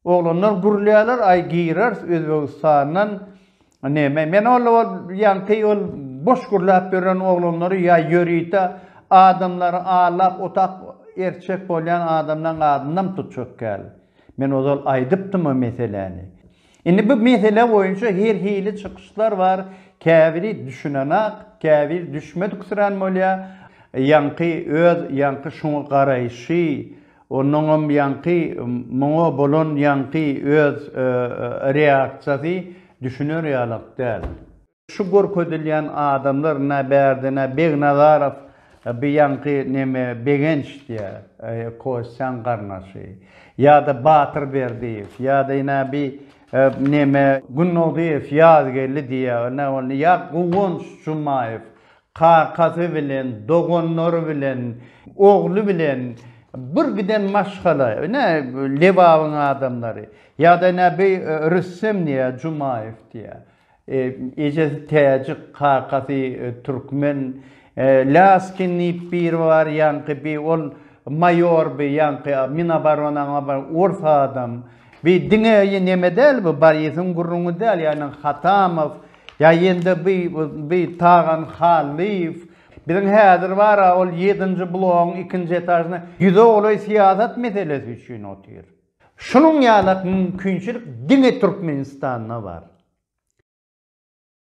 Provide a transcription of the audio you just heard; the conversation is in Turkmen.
Oglanlar gürlýärler, aý gireris Özbegistandan neme. Men ol ol ýaňky ol boş gürläp ýören oglanlary ýa ýörite adamlary allap otap erçek bolýan adamlaň adynam tutjak däl. Men ozal aýdypdym o meseläni. Indi bu mesele boýunça her hili çykyşlar bar, käbiri düşünenak, käbir düşmediksirän bolýar, ýaňky öz ýaňky şuňa garaýşy, onnoňam ýaňky muňa bolan ýaňky öz reaksiýasy düşüner ýalak däl. Şu görkezilýän adamlar nä bärde nä Begnazarow bi ýaňky neme Begenç diýä Kostýaň garnaşy ýada Batyr Berdiýew ýada nä bi neme Günnogdyýew Ýazgeldi diýä nä boldy ýa Guwanç Jumaýew kakasy bilen doganlary bilen ogly bilen bir giden maşgala nä Lebabyň adamlary ýada nä bi Rüstem diýä Jumaýew diýä Ejesi täjik, kakasy türkmen. Laskin diýip biri bar, ýaňky bi ol maýor bi, ýaňky Minoboronaň bir ors adam. Bi diňe ýe neme däl bu, Borisyň gürrüňi däl, ýagny Hatamow, ýa ýende bi, bi Tagan Hallyýew. Biziň häzir bar-a, ol ýedinji blogyň ikinji etažynda ýüze golaý syýasat meselesi üçin otyr. Şunuň ýalak mümkinçilik diňe Türkmenistanda bar.